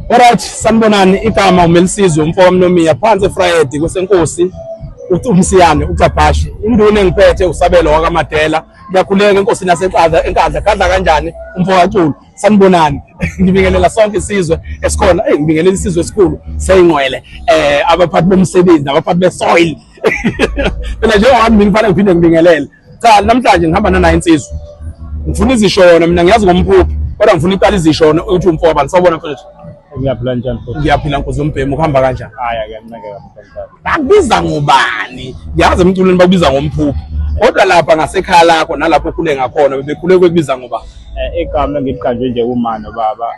Alright, sanibonani igama uMelisizwe umfo kaMnomiya phansi eFriday kwesenkosi uthi umsiyane ucabhashi induna engiphethe usabelo wakaMadela ngiyakhuleka enkosini yasenkadla enkadla kadla kanjani umfo kaCulu sanibonani ngibingelela sonke isizwe esikhona hey ngibingelela isizwe esikhulu seyingqwele eh abaphathi bomsebenzi abaphathi besoil phela njengoba mina kufanele ngiphinde ngibingelele cha namhlanje ngihamba nanayo insizwa ngifuna izishona mina ngiyazi ngomphuphi kodwa ngifuna iqala izishona ukuthi umfo abantu sawubona mfethu ngiyaphila njani futhi ngiyaphila nkosi yombhemu ukuhamba kanjani haya kuyanceka kakhulu bakubiza ngubani ngiyazi emculweni bakubiza ngomphuphi kodwa lapha ngasekhaya lakho nalapho okhule ngakhona bebekhule kwekubiza ngoba eh, igama engiliqanjwe nje umano baba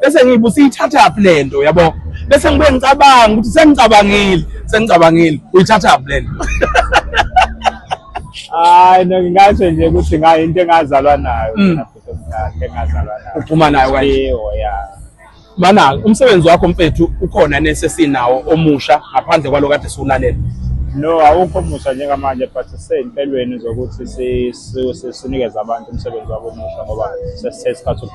bese ngibe usiyithathaphi le nto yabo bese ngibe ngicabanga ukuthi sengicabangile sengicabangile uyithathaphi le nto hayi no ngingasho nje ukuthi ngayo into engazalwa nayo mm. engazalwa nayo uphuma nayo kanje ya mana umsebenzi wakho mfethu ukhona nesesinawo omusha ngaphandle kwalo kade siwulalela no awukho omusha njengamanje but sisey'mpelweni zokuthi sinikeze abantu umsebenzi wabo omusha ngoba sesithe isikhathi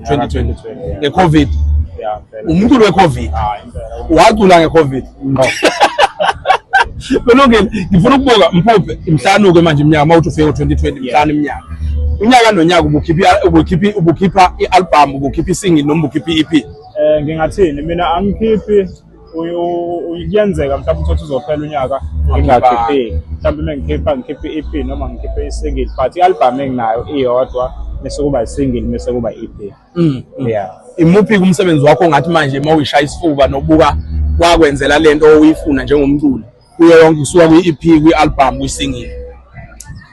2020 ngecovid umculo wecovid wacula ngecovid belungile ngifuna ukubuka mphuphe mhlanuke manje iminyaka uma uthi ufike ngo-2020 mhlanu iminyaka unyaka nonyaka ubukhipha i-albhamu ubukhipha isingi noma ubukhipha i-ep um eh, ngingathini mina angikhiphi kuyenzeka mhlawumbe uthi uzophela unyaka ngingakhiphile mhlawumbe uma ngikhipha ngikhiphe i-ep noma ngikhiphe i-single but i-albhamu enginayo iyodwa bese kuba i-single bese kuba i-ep mm, mm. ya imuphi kumsebenzi wakho ongathi manje uma uyishaya isifuba nobuka wakwenzela le nto oyifuna njengomculi kuyo yonke kusuka kwi-ep kwi-albhamu kwi-singing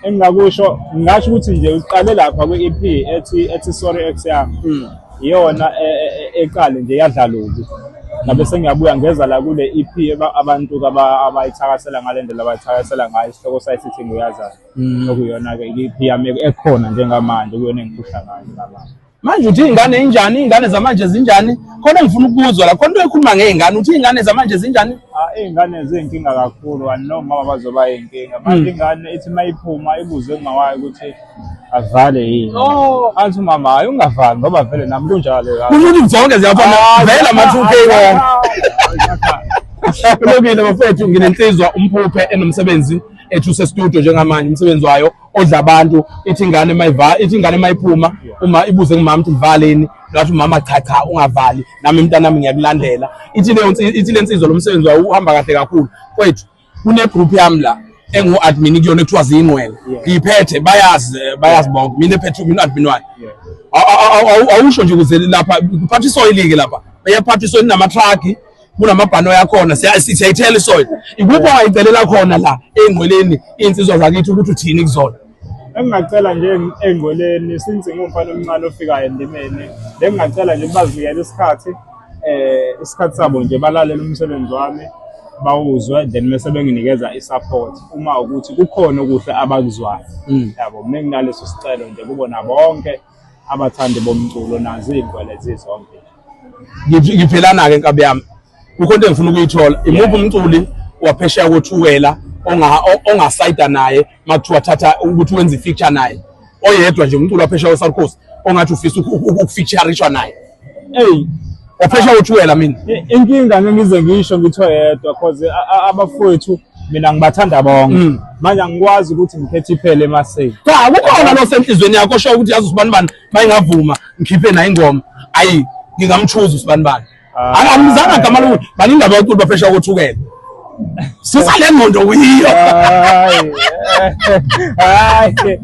engingakusho ngingasho ukuthi nje uqale lapha kwi-ep ethi ethi sorry ex yami hmm. iyona e, e, e, eqale nje yadlaluki ngabe sengiyabuya ngeza la kule EP abantu abayithakasela ngale ndlela abayithakasela ngayo isihloko sayo sithi nguyazana hmm. okuyona-ke i-EP yami ekhona njengamanje kuyona engiphuhla ngayo ngamanje manje uthi iy'ngane injani iy'ngane zamanje zinjani khona engifuna ukuzwa la khona into ekhuluma ngey'ngane uthi iy'ngane zamanje zinjani ah, iy'ngane ziyinkinga kakhulu anoma mama bazoba yinkinga manje hmm. ingane ithi uma iphuma ibuze ungawayo ukuthi avale yini oh. athi umama hayi ungavali ngoba vele nami kunjalo ukuthi zonke ziyafana ah, vele ama-two k wona kulungile bafethu nginensizwa umphuphe enomsebenzi ethu sestudio njengamanje umsebenzi wayo odla abantu ithi ingane mayiva ithi ingane mayiphuma uma ibuze kumama ukuthi ngivaleni ngathi umama cha cha ungavali nami mntana nami ngiyakulandela ithi leyo ithi lensizwa lomsebenzi wayo uhamba kahle kakhulu kwethu kune group yami la engu admin kuyona ekuthiwa zingwele ngiyiphethe bayazi bayazi bonke mina ephethe mina admin wayo awusho nje ukuze lapha kuphatha isoyilike lapha eyaphatha isoyini nama truck kunamabhanoyi akhona siyayithela isoil ikuphi ongayicelela khona la ey'ngqweleni iy'nsizwa zakithi ukuthi uthini kuzona engingacela nje engqweleni since ngumfana omncane ofikayo endimeni bengingacela nje bazinikele isikhathi um isikhathi sabo nje balalele umsebenzi wami bawuzwe then mese benginikeza i-support uma ukuthi kukhona okuhle abakuzwayo hmm. yabo mina nginaleso sicelo nje kubona bonke abathandi bomculo nazo iy'ngwele zizonke ngiphelana-ke nkabi yami kukho into engifuna ukuyithola imuphi umculi waphesheya kothukela ongasayida naye uma kuthiwa thatha ukuthi wenze i-feature naye oyedwa nje umculi waphesheya we-south coast ongathi ufisa ukufeaturishwa naye eyi waphesha utshwela mina inkinga ngeke ngize ngisho ngitho yedwa cause abafowethu mina ngibathanda bonke mm. manje angikwazi ukuthi ngikhethe iphele emaseni cha kukhona lo senhlizweni yakho osho ukuthi yazi usibani bani mayingavuma ngikhiphe nayo ingoma ayi ngingamchuza usibani bani ah. angamzanga gama lokuthi bani indaba yokuthi bafesha kothukela susa le ngqondo kuyiyo hayi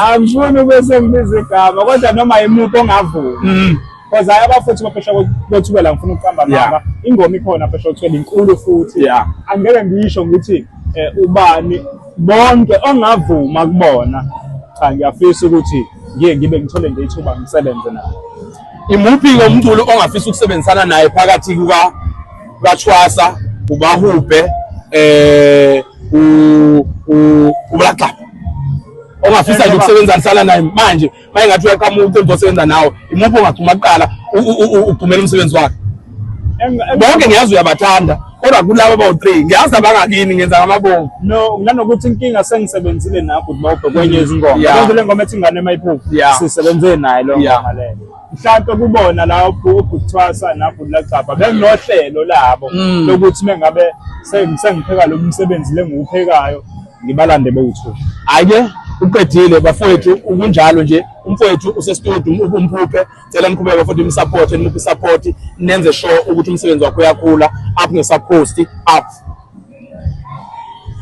angifuni ube sengibiza igama kodwa noma yimuphi ongavumi mm. because hayi abafuthi baphesha kothukela ngifuna ukuqamba naba ingoma ikhona phesha kothukela inkulu futhi angeke ngisho ngithi eh, ubani bonke ongavuma kubona cha ngiyafisa ukuthi ngiye ngibe ngithole nje ithuba ngisebenze nabo Imuphi-ke umculi ongafisa ukusebenzisana naye phakathi kuka kaThwasa, uBahubhe, eh uBlackla? Ongafisa nje ukusebenzisana naye manje, mayengathi uyaqhamuka ucela ukusebenza nawe. Imuphi ongagcuma kuqala ugcumela umsebenzi wakhe? bonke ngiyazi uyabathanda kodwa kulabo bawu-three ngiyazi abangakini ngenza ngamabomu no nganokuthi inkinga sengisebenzile nakho ubhobho kwenye mm, izingoma yeah. le ngoma ethi ingane emayiphuphu yeah. sisebenze naye leyo yeah. ngoma leyo mhlawumpe kubona la ubhuthwasa nabhuti lacabha benginohlelo labo mm. lokuthi mengabe sengipheka lo msebenzi lengiwuphekayo ngibalande bewuthu hhayi-ke uqedile bafowethu ukunjalo nje umfowethu usestudio umphuphe cela niqhubeke futhi msupport nimuphe support nenze sure ukuthi umsebenzi wakho uyakhula up ngesakhosti up